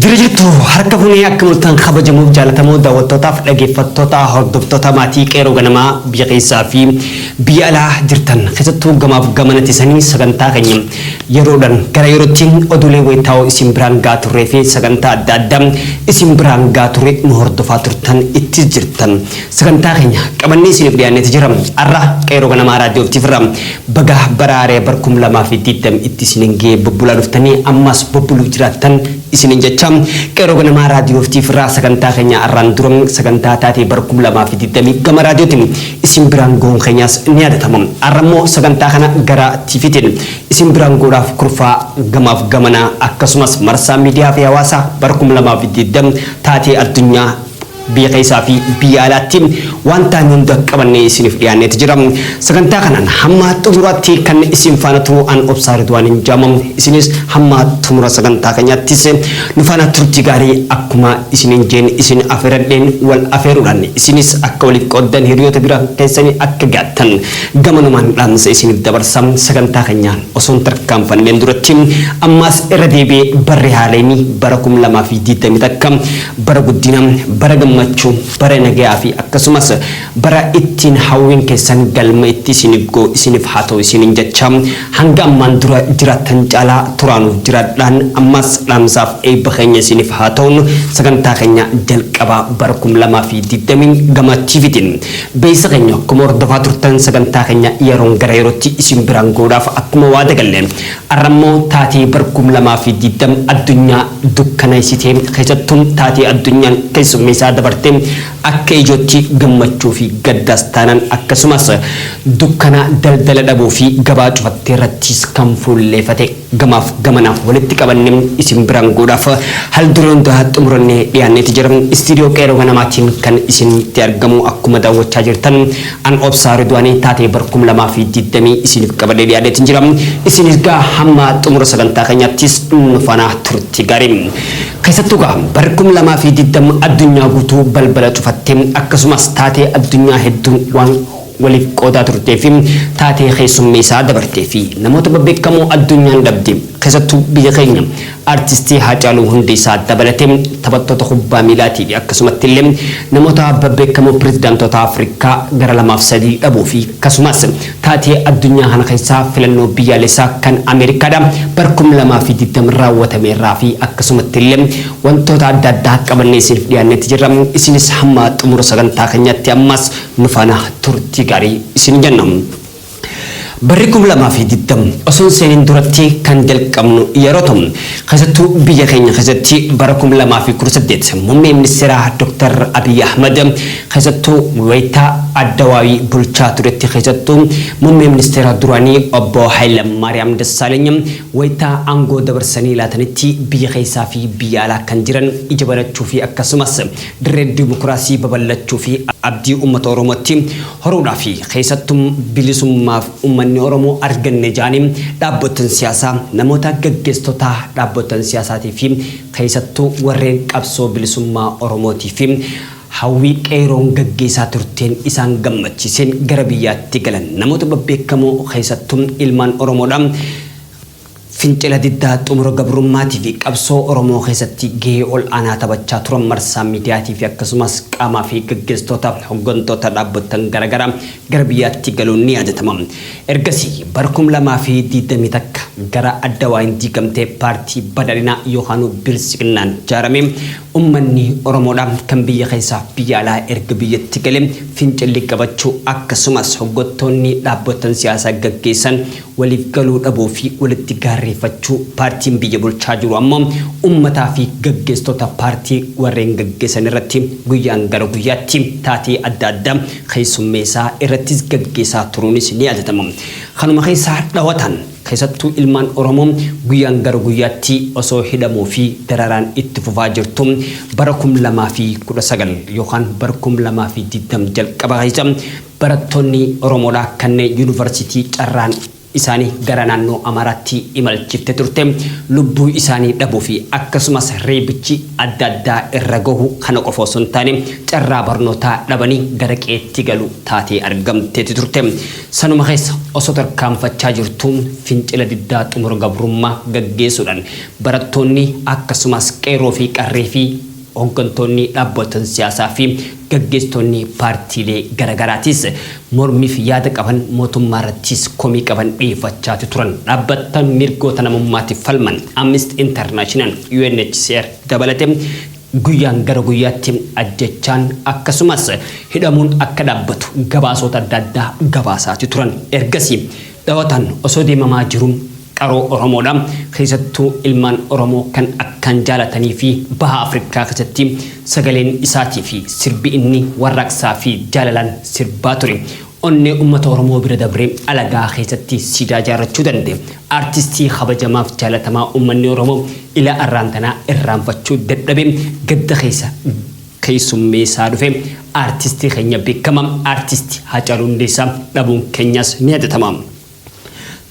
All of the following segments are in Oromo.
Jira jirtu harka bunee akka mul'atan kabajamuuf jaalatamoo daawwattootaaf dhaggeeffattoota hordoftoota maatii qeeroo ganamaa biyya keessaa fi biyya alaa jirtan keessattuu gamaaf gamanatti sanii sagantaa keenya Yeroodhan gara yerootti oduulee wayitaawoo isin biraan ga'aa turree fi sagantaa adda addaa isin biraan ga'aa turre nu hordofaa turtan ittis jirtan sagantaa keenya qabannee isiniif dhiyaanneeti jira arra qeerroo ganamaa raadiyoo ftif irraa baga bara haaraya bar 2020 itti isinin ga'ee bobbulaa dhuftanii ammaas bobbuluuf jiraattan isinin jecha qeerroo ganamaa raadiyoo ftif irraa sagantaa keenya arraan dura sagantaa taatee bar 2020 gama raadiyootiin isin biraan ga'uun keenyaas ni yaadatama. Har'a immoo sagantaa kana gara TVtiin isin biraan ga'uudhaaf kurfaa gamaaf gamanaa akkasumas marsaa miidiyaa fi hawaasaa bara 2020 taatee addunyaa biyya keessaa fi biyya alaatti waan taane hunda qabannee isiniif dhiyaanneeti jira. Sagantaa kanaan hamma xumuraatti kan isin faana turu an obsaa Ridwaaniin jaamam isinis hamma xumura sagantaa keenyaattis Nu faana turtii gaarii akkuma isiniin jeen isin afeeradheen wal afeeruudhaan isinis akka waliif qooddan hiriyoota bira keessanii akka gaattan gamanumaan dhaamsa isiniif dabarsa sagantaa keenya osoo hin tarkaanfanneen duratti ammaas irra deebi'ee barri haarayni bara 2021 bara guddina bara gammachuu bara nagayaa fi akkasumas bara ittiin hawwiin keessan galma itti isiniif ga'u isiniif haa ta'u isiniin jechaa Hanga ammaan dura jiraattan caalaa turaa nuuf jiraadhaan ammas dhaamsaaf eebba keenya isiinif haa ta'un sagantaa keenya jalqabaa bara 2020 gama TVtiin beeysa keenya akkuma hordofaa turtan sagantaa keenya yeroon gara yerootti isiin biraan ga'uudhaaf akkuma waada galle arra immoo taatee bara 2020 addunyaa dukkanaysitee keessattuu taatee addunyaan keessummeeysaa dabarte Akka ijootti gammachuu fi gaddaas taanan akkasumas dukkanaa daldala dhabuu fi gabaa cufatte irrattiis kan fuulleefate gamaaf gamana walitti qabanne isin biraan goodhaaf hal duree hundaa xumuranne dhiyaanneti jira Istiidiyoo Qeeroo Ganamaatiin kan isinitti argamu akkuma daawwachaa jirtan an Obsaa Ridwaani taatee bar 2020 isiinif qabadhe dhiyaadeetin jira isin isgaa hamma xumura sagantaa keenyaattis nu faana turti gaarii Keessattuu gaa barri 2020 addunyaa guutuu balbala cufatte akkasumas taatee addunyaa hedduun waan waliif qoodaa turtee fi taatee keessummeessaa dabartee fi namoota babbeekkamoo addunyaan dhabde keessattuu biyya keenya Artistii Haacaaluu Hundeessaa dabalatee taphattoota kubbaa miilaatii fi akkasumatti illee namoota babbeekkamoo Pirezidaantoota Afrikaa gara lamaaf sadii dhabuu fi akkasumas Taatee addunyaa kana keessaa filannoo biyyaalessaa kan Ameerikaadha bara 2020 raawwatame irraa fi akkasumatti illee wantoota adda addaa qabannee isiniif dhiyaannetti jirra. Isinis hamma xumura sagantaa keenyaatti ammaas nu faana turtii gaarii isin jenna. Barri 2020 osoo hin seeniin duratti kan jalqabnu yeroo ta'u, keessattuu biyya keenya keessatti bara 2018 Muummee Ministeeraa Dr. Abiy Ahmad Keessattuu wayita Addawaawii bulchaa turetti keessattuu Muummee Ministeera duraanii Obbo Hayilamaariyaam Dassaaleny wayita aangoo dabarsanii laatanitti biyya keessaa fi biyya alaa kan jiran ija banachuu fi akkasumas dirree dimokiraasii babal'achuu fi abdii uummata Oromootti horuudhaa fi keessattuu bilisummaa uummanni Oromoo arganne jedhanii dhaabbotan siyaasaa namoota gaggeessitoota dhaabbotan siyaasaatii fi keessattuu warreen qabsoo bilisummaa Oromootii fi Hawwii Qeeyroon gaggeessaa turteen isaan gammachiiseen gara biyyaatti galan namoota babbeekamoo keessattuu ilmaan Oromoodha. Fincila diddaa xumura gabrummaatiifi qabsoo Oromoo keessatti gahee ol'aanaa taphachaa turan marsaa miidiyaatiifi akkasumas qaamaafi gaggeessitoota hoggantoota dhaabbottan garagaraa gara biyyaatti galuun ni yaadatama. Ergasii bara 2021 gara Addawaayeen diigamtee paartii Badhaadhinaa yookaanuu Biltsiginnaan jaaramee Ummanni Oromoodha kan biyya keessaa fi biyya alaa erga biyyatti gale fincilli qabachuu akkasumas hoggottoonni dhaabbottan siyaasaa gaggeessan waliif galuu dhabuu fi walitti gaarreeffachuu paartiin biyya bulchaa jiru ammoo ummataa fi gaggeessitoota paartii warreen gaggeessan irratti guyyaan gara guyyaatti taatee adda addaa keessummeessaa irrattis gaggeessaa turuunis ni yaadatama. Kanuma keessaa dhawataan. Keessattuu ilmaan Oromoo guyyaan gara guyyaatti osoo hidhamuu fi dararaan itti fufaa jirtu bara 2019 yookaan bara 2020 jalqaba keessa barattoonni Oromoodhaa kanneen Yuunivarsiitii carraan isaanii gara naannoo Amaaraatti imalchifte turte lubbuu isaanii dhabuu fi akkasumas reebichi adda addaa irra gahu kana qofa osoo hin taane carraa barnootaa dhabanii gara qe'eetti galu taatee argamteeti turte. Sanuma keessa osoo tarkaanfachaa jirtuu fincila diddaa xumura gabrummaa gaggeesuudhaan barattoonni akkasumaas qeerroo fi qarree fi hoggantoonni dhaabbotan siyaasaa fi gaggeessitoonni paartiilee gara garaatiis mormiif yaada qaban mootummaa irrattiis komii qaban dhiyeeffachaati turan dhaabbattan mirgoota namummaatiif falman Amnesty International, UNHCR dabalate Guyyaan gara guyyaatti ajjeechaan akkasumas hidhamuun akka dhaabbatu gabaasoota adda addaa gabaasaati turan. Ergasii dhawataan osoo deemamaa jiruu qaroo Oromoodha. Keessattuu ilmaan Oromoo kan akkaan jaalatanii fi Baha Afrikaa keessatti sagaleen isaatii fi sirbi inni warraaqsaa fi jaalalaan sirbaa ture Onnee ummata Oromoo bira dabree alagaa keessatti siidaa ijaarrachuu danda'e Artistii kabajamaaf jaalatamaa ummanni Oromoo ila arraan tanaa irraanfachuu dadhabee gadda keessa keessummeessaa dhufe Artistii keenya beekkamaa Artisti Haacaaluu Hundeessaa dhabuun keenyaas ni yaadatama.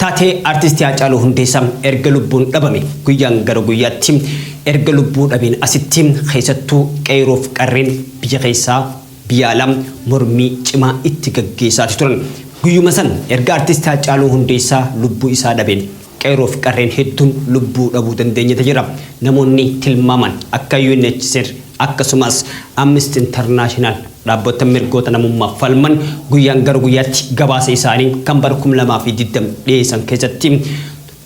Taatee Artisti Haacaaluu Hundeessaa erga lubbuun dhabame guyyaan gara guyyaatti erga lubbuu dhabeen asitti keessattuu qeeroof qarreen biyya keessaa biyya alaa mormii cimaa itti gaggeessaati turan. Guyyuma san erga Artisti Haacaaluu Hundeessaa lubbuu isaa dhabeen qeeroof qarreen hedduun lubbuu dhabuu dandeenyeta jira. Namoonni tilmaamaan akka UNHCR akkasumaas Amnesty International Dhaabbattan mirgoota namummaaf falman guyyaan gara guyyaatti gabaasa isaanii kan bara 2020 dhiyeessan keessatti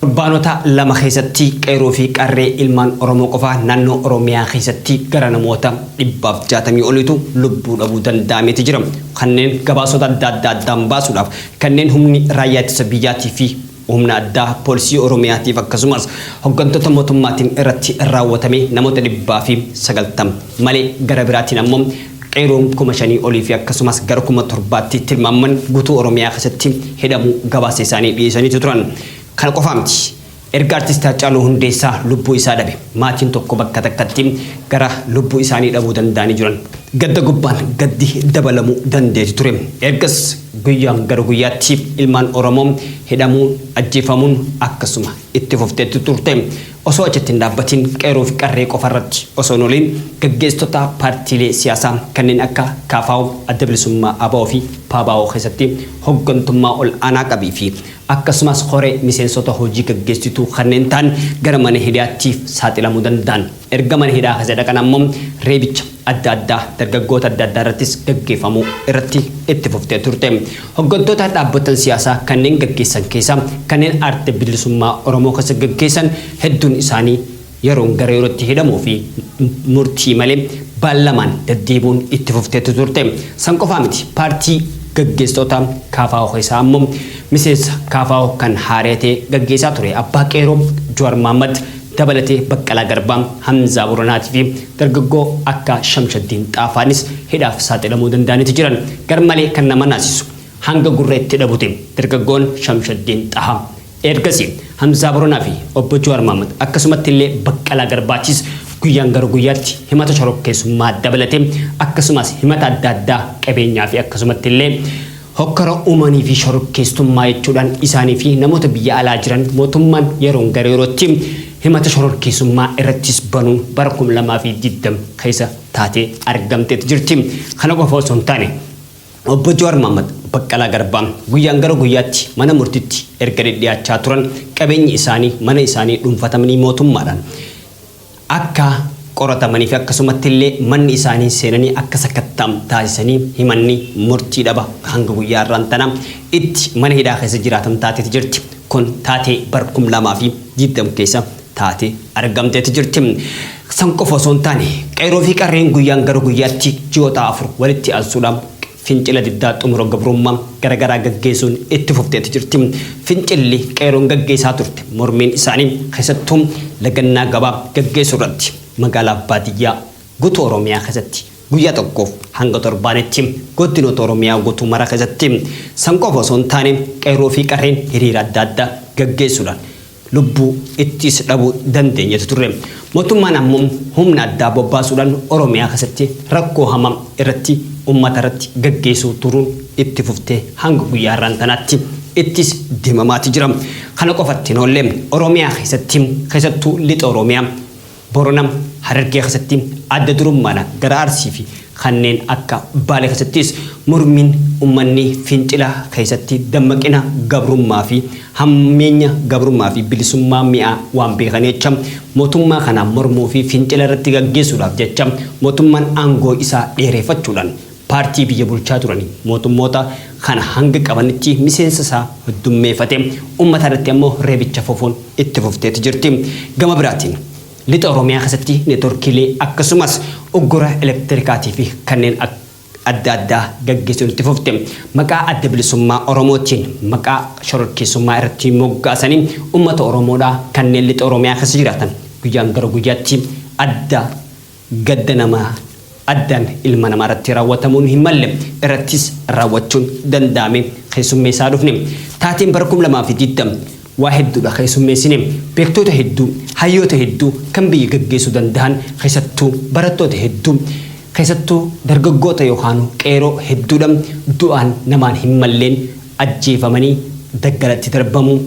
torbaanota lama keessatti qeerroo fi qarree ilmaan Oromoo qofa naannoo Oromiyaa keessatti gara namoota 160 oliitu lubbuu dhabuu danda'ameeti jira. Kanneen gabaasota adda addaa addaan baasuudhaaf kanneen humni raayyaa ittisa biyyaatii fi Humna addaa poolisii Oromiyaatiif akkasumas hoggantoota mootummaatiin irratti raawwatame namoota dhibbaa fi sagaltam malee gara biraatiin ammoo qeeroon kuma shanii olii fi akkasumas gara kuma torbaatti tilmaaman guutuu Oromiyaa keessatti hidhamuu gabaasa isaanii dhiyeesaniitu turan. Kana qofaa miti. Erga Artisti Haacaaluu Hundeessaa lubbuu isaa dhabe maatiin tokko bakka takkatti gara lubbuu isaanii dhabuu danda'anii jiran. Gadda gubbaan gaddi dabalamuu dandeeti ture. Ergas Guyyaa gara guyyaatti ilmaan Oromoo hidhamuu, ajjeefamuun akkasuma itti fufteetti turte. Osoo achitti hin dhaabbatiin qeerroo fi qarree qofa irratti osoo hin ooliin gaggeessitoota paartiilee siyaasaa kanneen akka KFO, Adda Bilisummaa abo fi PABO keessatti hoggantummaa ol aanaa qabii fi akkasumas koree miseensota hojii gaggeessituu kanneen ta'an gara mana hidhaatti saaxilamuu danda'an. Erga mana hidhaa keessa dhaqan ammoo reebicha, adda addaa dargaggoota adda addaa irrattis gaggeeffamuu irratti itti fuftee turte. Hoggantoota dhaabbottan siyaasaa kanneen gaggeessan keessaa kanneen aarte bilisummaa Oromoo keessa gaggeessan hedduun isaanii yeroon gara yerootti hidhamuu fi murtii malee baallamaan daddeebi'uun itti fufteetu turte. San qofaa miti paartii gaggeessitoota KFO keessaa ammoo miseensa KFO kan haaree ta'ee gaggeessaa ture Abbaa Qeeroo Juwar Mahammad dabalatee Baqqalaa Garbaa, Hamzaa Boranaatii fi dargaggoo akka Shamshaddiin Xaafaanis hidhaaf saaxilamuu danda'aniiti jiran. Garmalee kan nama naasisu, hanga gurra itti dhabute dargaggoon Shamshaddiin Xahaa. Eergasii Hamzaa Boranaa fi Obbo Jawaar Mahaammad akkasumatti illee Baqqalaa Garbaatiis guyyaan gara guyyaatti himata shorokkeessummaa dabalatee akkasumaas himata adda addaa qabeenyaa fi akkasumatti illee Hokkara uumanii fi shororkeesstummaa jechuudhaan isaanii fi namoota biyya alaa jiran mootummaan yeroon gara yerootti himata shororkeessummaa irrattis banuun bara 2020 keessa taatee argamteeti jirti. Kana qofa osoo hin taane Obbo Jawaar Mahaammad, Baqqalaa Garbaa guyyaan gara guyyaatti mana murtiitti erga dhidhiyaachaa turan qabeenyi isaanii mana isaanii dhuunfatamanii mootummaadhaan akka qoratamanii fi akkasumatti illee manni isaanii seenanii akka sakatta'am taasisanii himanni murtii dhaba hanga guyyaa har'aan tana itti mana hidhaa keessa jiraatan taateeti jirti. Kun taatee bara 2020 keessa taatee argamteeti jirti. San qofa osoo hin taane qeerroo fi qarreen guyyaan gara guyyaatti ji'oota afur walitti aansuudhaan Fincila diddaa xumura gabrummaa gara garaa gaggeesuun itti fufteeti jirti. Fincilli qeeroon gaggeesaa turte mormiin isaanii keessattuu lagannaa gabaa gaggeesuu irratti magaalaaf baadiyyaa gutuu Oromiyaa keessatti guyyaa tokkoof hanga torbaanitti goddinoota Oromiyaa gutuu mara keessatti san qofa osoo hin taane qeerroo fi qarreen hiriira adda addaa gaggeessuudhaan lubbuu ittis dhabuu dandeenyetu turre. Mootummaan ammo humna addaa bobbaasuudhaan Oromiyaa keessatti rakkoo hamaa irratti ummata irratti gaggeessuu turuun itti fuftee hanga guyyaa har'aan tanaatti ittis deemamaati jira. Kana qofatti hin oolle. Oromiyaa keessatti keessattuu Lixa Oromiyaa, Boronam Harargee keessatti adda durummaana gara Arsii fi kanneen akka Baale keessattis mormiin ummanni fincila keessatti dammaqina gabrummaa fi hammeenya gabrummaa fi bilisummaa mi'aa waan beekanii jecha mootummaa kana mormuu fi fincila irratti gaggeessuudhaaf jecha mootummaan aangoo isaa dheereefachuudhaan Paartii biyya bulchaa turanii mootummoota kana hanga qabanitti miseensa isaa heddummeefate. Ummata irratti ammoo reebicha fufuun itti fufteeti jirti. Gama biraatiin Lixa Oromiyaa keessatti networkiilee akkasumas uggura elektirikaatii fi kanneen adda addaa gaggeessuun itti fufte. Maqaa Adda Bilisummaa Oromootiin maqaa shororkeessummaa irratti moggaasanii ummata Oromoodhaa kanneen Lixa Oromiyaa keessa jiraatan guyyaan gara guyyaatti adda Gadda nama addaan ilma namaa irratti raawwatamuun hin malle irrattis raawwachuun danda'ame keessummeessaa dhufne. Taateen bara 2020 waa hedduudha keessummeessine. Beektoota hedduu, hayyoota hedduu kan biyya gaggeessuu danda'an keessattuu barattoota hedduu, keessattuu dargaggoota yookaanuu qeeroo hedduudha du'aan namaan hin malleen ajjeefamanii daggalatti darbamuu.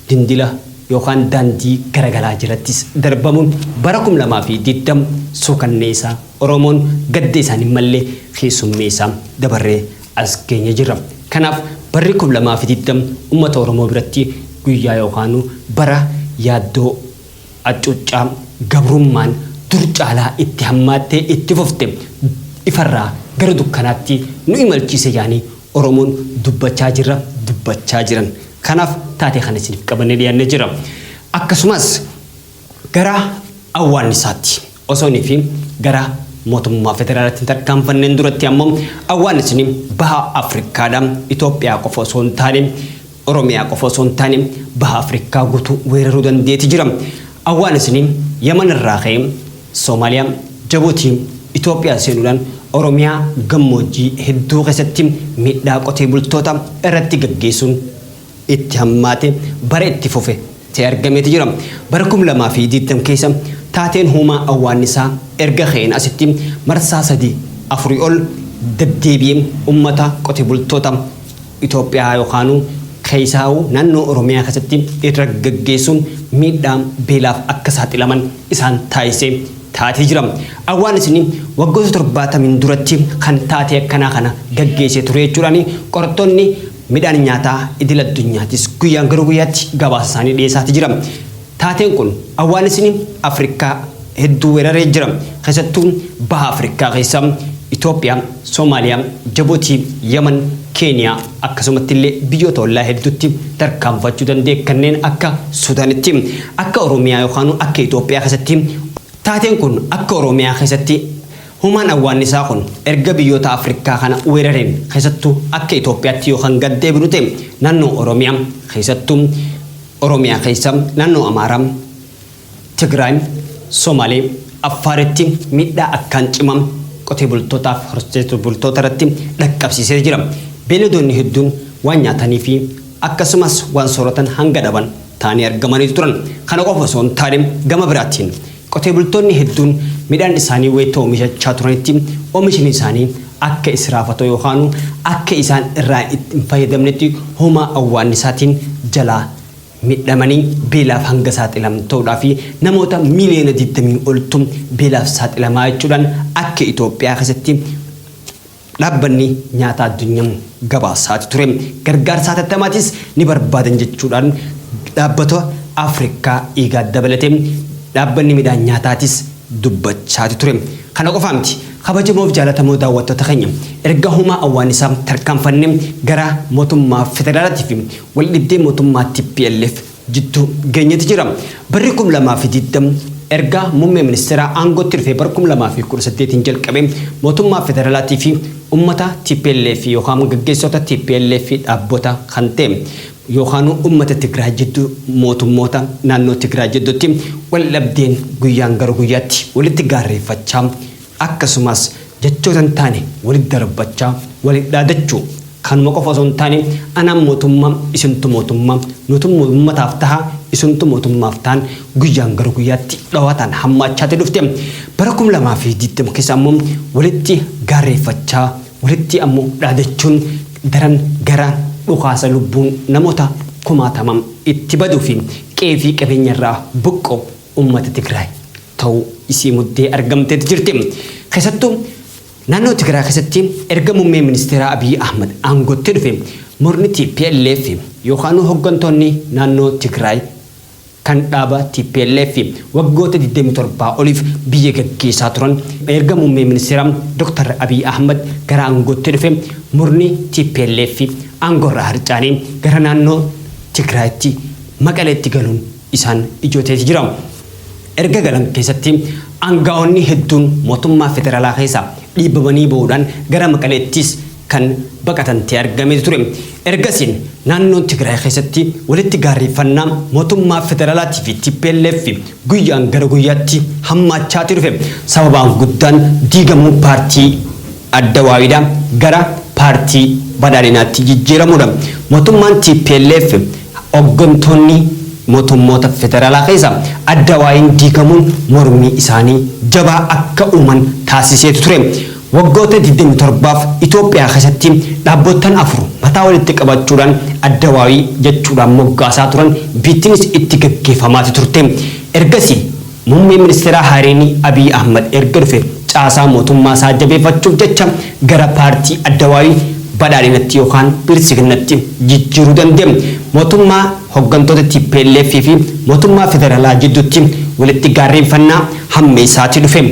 dindila yookaan daandii garagalaa jalattis darbamuun bara 2020 suukanneesaa Oromoon gadda isaan hin malle keessummeesaa dabarree as geenye jirra. Kanaaf barri 2020 ummata Oromoo biratti guyyaa yookaanu bara yaaddoo accuuccaa gabrummaan dur caalaa itti hammaattee itti fufte ifarraa gara dukkanaatti nu imalchiise jaanii Oromoon dubbachaa jirra, dubbachaa jiran. Kanaaf taatee kana isiniif qabannee dhiyaannee jirra. Akkasumas gara awwaannisaatti osoo inni fi gara mootummaa federaalaatti hin tarkaanfanneen duratti ammoo awwaannisni baha Afrikaadha. Itoophiyaa qofa osoo hin taane Oromiyaa qofa osoo hin taane baha Afrikkaa gutuu weeraruu dandeeti jira. Awwaanisni Yaman irraa ka'ee Somaaliyaa, Jabuutii, Itoophiyaa seenuudhaan Oromiyaa gammoojjii hedduu keessatti miidhaa qotee bultoota irratti gaggeessuun itti hammaate bara itti fufe ta'e argameeti jira. Bara 2020 keessa taateen huumaa awwaannisaa erga ka'een asitti marsaa sadii afurii ol daddeebi'ee ummata qotee bultoota Itoophiyaa yookaanuu keessaahuu naannoo Oromiyaa keessatti irra gaggeessuun miidhaa beelaaf akka saaxilaman isaan taasisee taatee jira. Awwaanisni waggoota torbaatamiin duratti kan taatee akkanaa kana gaggeessee ture jechuudhaan qorattoonni midhaan nyaataa idil addunyaatis guyyaan gara guyyaatti gabaasa isaanii dhiyeessaatii jira. Taateen kun awwaanisni Afrikkaa hedduu weeraree jira. Keessattuu Baha Afrikkaa keessa Itoophiyaa, Somaaliyaa, Jabuutii, Yaman, Keeniyaa akkasumatti illee biyyoota ollaa hedduutti tarkaanfachuu danda'e kanneen akka Sudaanitti. Akka Oromiyaa yookaanuu akka Itoophiyaa keessatti Taateen kun akka Oromiyaa keessatti Human awwaannisaa kun erga biyyoota Afrikkaa kana weerareen keessattuu akka Itoophiyaatti yoo kan gad deebinu ta'e naannoo Oromiyaa keessattuu Oromiyaa keessa naannoo Amaaraa, Tigraay, Somaalee, Affaaritti miidhaa akkaan cimaa qotee bultootaaf horsiisee bultoota irratti dhaqqabsiisee jira. Beeyladoonni hedduun waan nyaatanii fi akkasumas waan sooratan hanga dhaban ta'anii argamaniitu turan. Kana qofa osoo hin taane gama biraatiin Qotee bultoonni hedduun midhaan isaanii wayita oomishachaa turanitti oomishni isaanii akka israafatoo yookaanuu akka isaan irraa itti hin fayyadamnetti hoomaa awwaannisaatiin jalaa midhamanii beelaaf hanga saaxilaman ta'uudhaa fi namoota miiliyoona 20 oltu beelaaf saaxilamaa jechuudhaan akka Itoophiyaa keessatti Dhaabbanni Nyaataa Addunyam gabaasaati ture. Gargaarsa hatattamaatiis ni barbaadan jechuudhaan dhaabbata Afrikaa IGAD dabalatee dhaabbanni midhaan nyaataatiis dubbachaati ture. Kana qofaa miti. Kabajamoof jaalatamoo daawwattoota keenya, erga Humaa Awwaanisaa tarkaanfannee gara motummaa federaalaatiifi waldhibdee motummaa tplf jiddu geenyati jira. Barri 2020 erga muummee ministeeraa aangootti dhufee bara 2018n jalqabee mootummaa federalaatii fi ummata tplf yookaan gaggeessota tplf dhaabbota kan ta'e yookaanuu ummata Tigraay jiddu mootummoota naannoo Tigraay jiddutti waldhabdeen guyyaan gara guyyaatti walitti gaarreeffachaa Akkasumas, jechoota hin taane walitti darbachaa, waliin dhaadachuu, kanuma qofa osoo hin taane, anaan mootummaa, isintu mootummaa, nutu uummataaf taha, isintu mootummaaf tahan guyyaan gara guyyaatti dhawaataan hammaachaati dhufte. Bara 2020 keessa ammoo walitti gaarreeffachaa, walitti ammoo dhaadachuun daran gara dhukaasa lubbuun namoota kumaatamaan itti baduu fi qe'ee fi qabeenya irraa buqqa'u ummata Tigraay ta'uu isii muddee argamteeti jirti. Keessattuu naannoo Tigraay keessatti erga Muummeen Ministeeraa Abiy Ahmad aangootti dhufe murni tplf yookaanuu hoggantoonni naannoo Tigraay kan dhaaba tplf waggoota 27 oliif biyya gaggeessaa turan erga Muummee Ministeeraa Dr. Abiy Ahmad gara aangootti dhufe murni tplf aangoorraa harcaanee gara naannoo Tigraayitti Maqaleetti galuun isaan ijoo ta'eeti jira. Erga galan keessatti aanga'oonni hedduun mootummaa federaalaa keessaa dhiibamanii bahuudhaan gara Maqaleettis kan baqatan ta'ee argameeti ture. Ergasiin naannoo Tigraay keessatti walitti gaarreeffannaa mootummaa federaalaatii fi tplf guyyaan gara guyyaatti hammaachaati dhufe. Sababaan guddaan diigamuu paartii. Adda Waawidaa gara Paartii Badhaadhinaatti jijjiiramuudha. Mootummaan tplf hoggantoonni mootummoota federaalaa keessaa Adda Waawiin diigamuun mormii isaanii jabaa akka uuman taasiseetu ture. Waggoota 27f Itoophiyaa keessatti dhaabbottan afur mataa walitti qabachuudhaan Adda Waawii jechuudhaan moggaasaa turan, biittinis itti gaggeeffamaati turte. Ergasii. Muummeen Ministeeraa haareenii Abiy Ahmad erga dhufe caasaa mootummaasaa jabeeffachuuf jecha gara paartii Addawaawii Badhaadhinatti yookaan Biltsiginnatti jijjiiruu danda'e. Mootummaa hoggantoota tplf fi mootummaa federaalaa jidduutti walitti gaarreenfannaa hammeessaatii dhufe.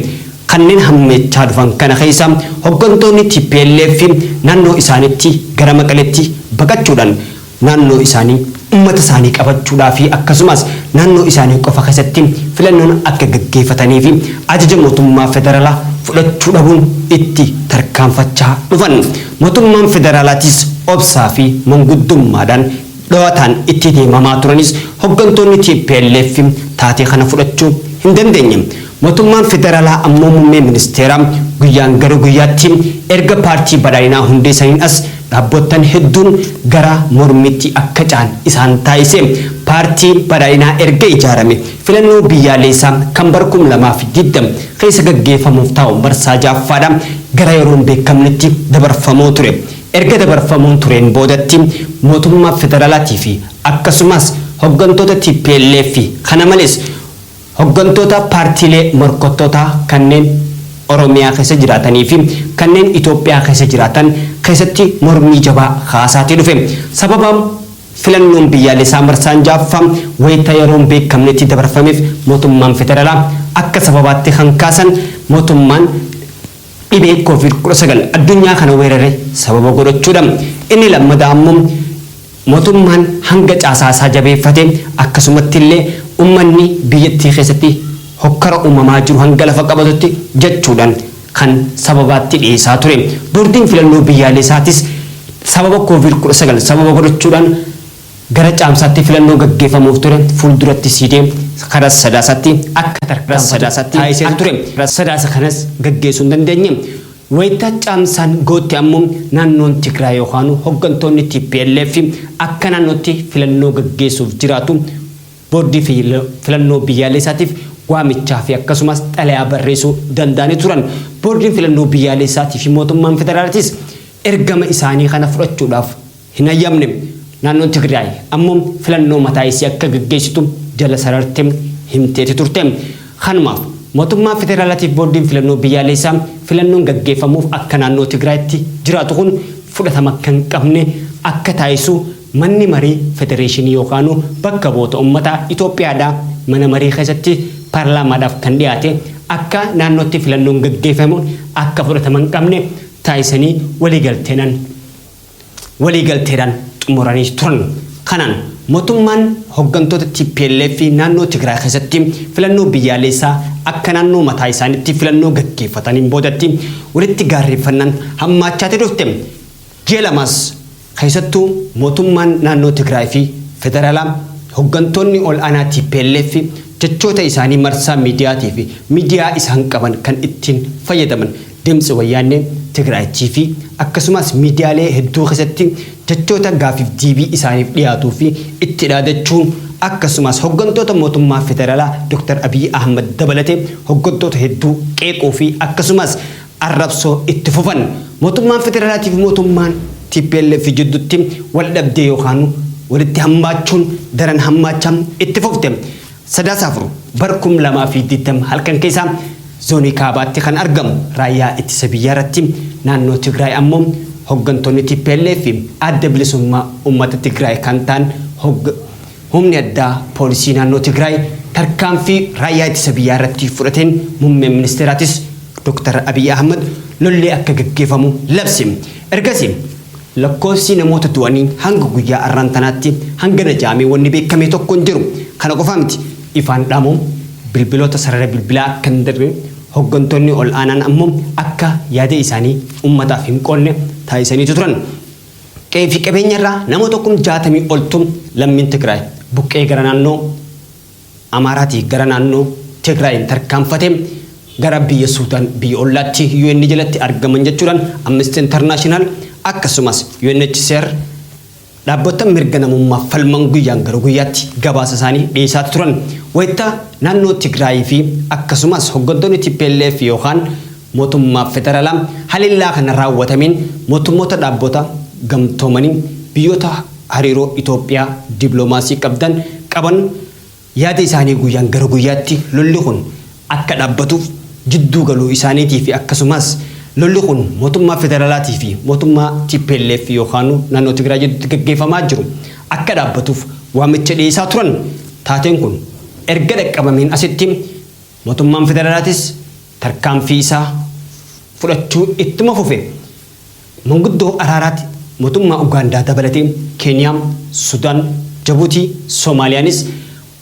Kanneen hammeechaa dhufan kana keessaa hoggantoonni tplf naannoo isaaniitti gara Maqaleetti baqachuudhaan naannoo isaanii, ummata isaanii qabachuudhaa fi akkasumaas naannoo isaanii qofa keessatti filannoon akka gaggeefatanii fi ajaja mootummaa federalaa fudhachuu dhabuun itti tarkaanfachaa dhufan. Mootummaan federalaatiis obsaa fi manguddummaadhaan dhowataan itti deemamaa turanis hoggantoonni tplf taatee kana fudhachuu hin dandeenye. Mootummaan Federaalaa ammoo Muummee Ministeeraa guyyaan gara guyyaatti erga Paartii Badhaadhinaa hundeessaniin as dhaabboottan hedduun gara mormiitti akka ce'an isaan taasise. Paartii Badhaadhinaa erga ijaarame filannoo biyyaaleessaa kan bara 2020 keessa gaggeeffamuuf taa'u marsaa 6ffaadha gara yeroo hin beekamnetti dabarfamoo ture. Erga dabarfamoon tureen boodatti mootummaa federaalaatii fi akkasumaas hoggantoota tplf kana malees, Hoggantoota paartiilee morkattootaa kanneen Oromiyaa keessa jiraatanii fi kanneen Itoophiyaa keessa jiraatan keessatti mormii jabaa kaasaatii dhufe. Sababa filannoon biyyaalessaa marsaan 6ffaa wayita yeroo hin beekamnetti dabarfameef mootummaan federaalaa akka sababaatti kan kaasan mootummaan dhibee Covid 19 addunyaa kana weerare sababa godhachuudha. Inni lammadaa ammoo Motummaan hanga caasaa isaa jabeeffate akkasumatti illee ummanni biyyattii keessatti hokkara uumamaa jiru hanga lafa qabatutti jechuudhaan kan sababaatti dhiyeessaa ture. Boordiin Filannoo Biyyaaleesaatis sababa Covid 19 sababa godhachuudhaan gara Caamsaatti filannoo gaggeeffamuuf ture fuulduratti siidee kara Sadaasaatti akka tarkaanfatu taasisee ture. Sadaasa kanas gaggeessuu hin dandeenye. Wayita Caamsaan ga'utti ammoo naannoon Tigraay yookaanuu hoggantoonni tplf akka naannootti filannoo gaggeessuuf jiraatu Boordii Filannoo Biyyaaleessaatiif waamichaafi akkasumas xalayaa barreessuu danda'anii turan. Boordiin Filannoo Biyyaaleessaatiifi Mootummaan Federaalatis ergama isaanii kana fudhachuudhaaf hin hayyamne. Naannoon Tigraay ammoo filannoo mataa isii akka gaggeessitu jala sararte himteeti turte. Kanumaaf mootummaa federaalaatiif boordiin filannoo biyyaaleessaa filannoon gaggeeffamuuf akka naannoo Tigraayitti jiraatu kun fudhatama akka hin qabne akka taasisu manni marii federeeshinii yookaanuu bakka bu'oota ummataa Itoophiyaadhaa mana marii keessatti paarlaamaadhaaf kan dhiyaate akka naannootti filannoon gaggeeffamu akka fudhatama hin qabne taasisanii waliigalteenan waliigalteedhaan xumuranii turan. Kanaan motummaan hoggantoota tplf naannoo Tigraay keessatti filannoo biyyaaleessaa akka naannoo mataa isaanitti filannoo gaggeeffataniin boodatti walitti gaarreeffannaan hammaachaati dhufte. Ji'a lamaas keessattuu motummaan naannoo Tigraay fi federaalaa hoggantoonni ol aanaa tplf jechoota isaanii marsaa miidiyaatii fi miidiyaa isaan qaban kan ittiin fayyadaman Deemsa Wayyaannee Tigraay TV akkasumaas miidiyaalee hedduu keessatti jechoota gaaffiif deebii isaaniif dhiyaatuu fi itti dhaadachuun akkasumaas hoggantoota mootummaa federalaa Dr. Abiy Ahmad dabalatee hoggantoota hedduu qeequu fi akkasumaas arrabsoo itti fufan. Mootummaan federalaatii fi mootummaan tplf jiddutti wal dhabdee yookaanuu walitti hammaachuun daran hammaachaa itti fufte. Sadaasa 4 bara 2020 halkan keessaa Zoonii Kaabaatti kan argamu Raayyaa Ittisa Biyyaa irratti naannoo Tigraay ammoo hoggantoonni tplf fi Adda Bilisummaa Uummata Tigraay kan ta'an hogg Humni Addaa Poolisii Naannoo Tigraay tarkaanfii Raayyaa Ittisa Biyyaa irratti fudhateen Muummeen Ministeeraatis Dr. Abiy Ahmad lolli akka gaggeefamu labse. Ergasii Lakkoofsi namoota du'anii hanga guyyaa arraan tanaatti hangana ja'amee wanni beekkame tokko hin jiru. Kana qofaa miti, ifaan dhaamuun bilbiloota sarara bilbilaa akka hin darre, hoggantoonni ol aanaan ammoo akka yaada isaanii ummataaf hin qoodne taasisaniitu turan. Qe'ee fi qabeenya irraa namoota kum 60 oltu lammiin Tigraay buqqa'ee gara naannoo. Amaaraatii gara naannoo Tigraayiin tarkaanfate gara biyya Suudaan biyya ollaatti UN jalatti argaman jechuudhaan Amnesty International akkasumas UNHCR dhaabbotta mirga namummaaf falman guyyaan gara guyyaatti gabaasa isaanii dhiyeesaati turan wayita naannoo Tigraayii fi akkasumas hoggantoonni tplf yookaan Mootummaa Federalaa halellaa kana raawwatameen mootummoota dhaabbota gamtoomanii biyyoota hariiroo Itoophiyaa diploomaasii qabdan qaban yaada isaanii guyyaan gara guyyaatti lolli kun akka dhaabbatuuf jidduu galuu isaaniitii fi akkasumaas lolli kun mootummaa federalaatii fi mootummaa tplf yookaanu naannoo Tigraay jidduutti gaggeeffamaa jiru akka dhaabbatuuf waamicha dhiyeessaa turan taateen kun erga dhaqqabameen asitti Mootummaan Federaalaatis tarkaanfii isaa fudhachuu ittuma fufe. Manguddoo araaraatti mootummaa Ugaandaa dabalatee Keeniyaa, Sudaan, Jabuutii, Soomaaliyaanis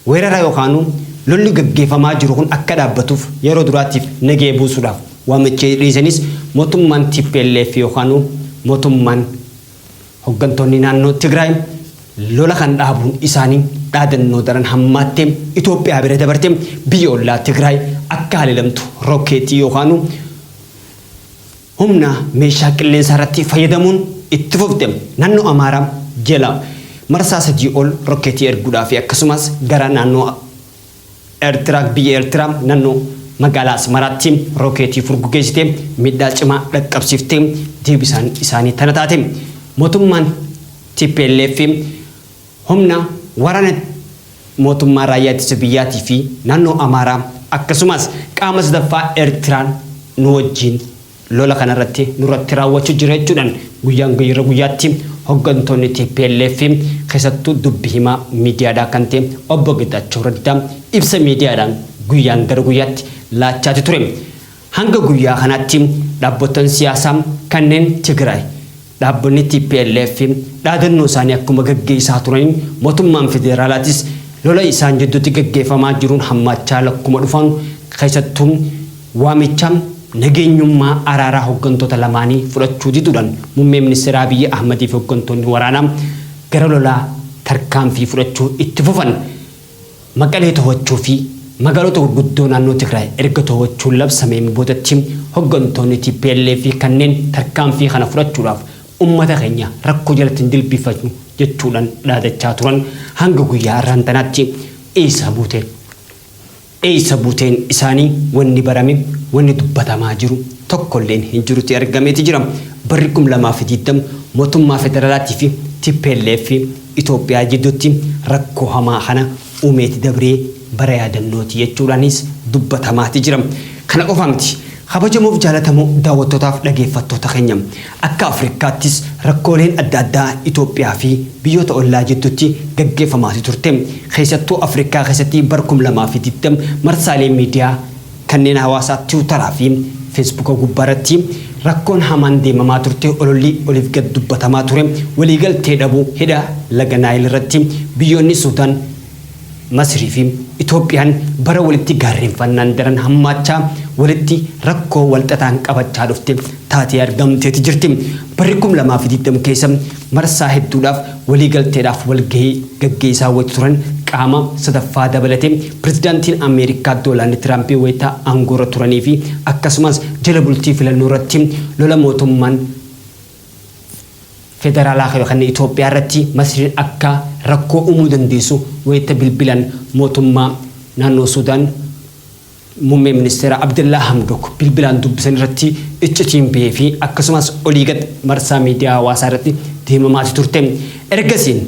weerara yookaanuu lolli gaggeefamaa jiru kun akka dhaabbatuuf yeroo duraatiif nagaya buusuudhaaf waamicha dhiyeessanis mootummaan tplf yookaanuu mootummaan Hoggantoonni naannoo Tigraay lola kan dhaabuun isaanii dhaadannoo daran hammaattee Itoophiyaa bira dabartee biyya ollaa Tigraay akka haleelamtu rokkeetii yookaanu humna meeshaa qilleensaa irratti fayyadamuun itti fufte. Naannoo Amaaraa jala marsaa sadii ol rokkeetii erguudhaa fi akkasumas gara naannoo Ertira biyya Ertiraa nannoo magaalaa Asmaraatti rookeetii furgugeessitee miidhaa cimaa dhaqqabsiiftee deebisaan isaanii tana taate. Mootummaan tplf humna waraana mootummaa raayyaa ittisa biyyaatii fi naannoo Amaaraa akkasumaas qaama sadaffaa Ertiraan nu wajjiin Lola kana irratti nurratti raawwachu jira jechuudhan guyyaan guyyra guyyaatti hoggantoonni tplf fi keessattuu dubbi himaa miidiyaadhaa kan ta'e Obbo Getachew Raddaa ibsa miidiyaadhaan guyyaan gara guyyaatti laachaati ture hanga guyyaa kanaatti dhaabbotan siyaasaa kanneen Tigraay Dhaabbonni tplf dhaadannoo isaanii akkuma gaggeessaa turaniin mootummaan federaalaatis lola isaan jidduutti gaggeeffamaa jiruun hammaachaa lakkuma dhufanu keessattuu waamicha nageenyummaa araaraa hoggantoota lamaanii fudhachuu diduudhaan Muummee Ministeeraa Abiyyi Ahmadiifi hoggantoonni waraanaa gara lolaa tarkaanfii fudhachuu itti fufan. Maqalee tohachuu fi magaalota gurguddoo naannoo Tigraay erga tohachuun labsameen boodatti hoggantoonni tplf kanneen tarkaanfii kana fudhachuudhaaf ummata keenya rakkoo jalatti hin jilbiiffachnu jechuudhaan dhaadachaa turan hanga guyyaa har'aan tanaatti eessa buute? Eessa buuteen isaanii wanni barame, wanni dubbatamaa jiru tokkolleen hin jiruti argameeti jira. Barri 2020 mootummaa federaalaatii fi tplf Itoophiyaa jidduutti rakkoo hamaa kana uumeeti dabree bara yaadannooti jechuudhaanis dubbatamaati jira. Kana qofa miti. Kabajamoof jaalatamoo daawwattootaaf dhageeffattoota keenya, akka Afrikaattis rakkooleen adda addaa Itoophiyaa fi biyyoota ollaa jidduutti gaggeeffamaati turte. Keessattuu Afrikaa keessatti bara 2020 marsaalee miidiyaa, Kanneen hawaasaa tiwutaraa fi feesbuuka gubbaarratti rakkoon hamaan deemamaa turte ololli oliif gad dubbatamaa ture waliigaltee dhabuu hidha laga Naayil irratti biyyoonni Suudaan, Masirii fi Itoophiyaan bara walitti gaarreenfannaan daran hammaachaa walitti rakkoo walxaxaan qabachaa dhufte taatee argamteeti jirti. Barri 2020 keessa marsaa hedduudhaaf waliigalteedhaaf walgahii gaggeessaa wayita turan qaama sadaffaa dabalatee Pirezidaantiin Ameerikaa Doolaand Tiraampi wayita aangoorra turaniifi akkasumas jala bultii filannoorratti lola mootummaan federaalaa kayo kan Itoophiyaa irratti Masriin akka rakkoo uumuu dandeessu wayita bilbilan mootummaa naannoo Suudaan Muummee Ministeeraa Abdallaa Hamdook bilbilaan dubbisan irratti iccitiin bahee fi akkasumas olii gad marsaa miidiyaa hawaasaa irratti deemamaati turte. Ergasiin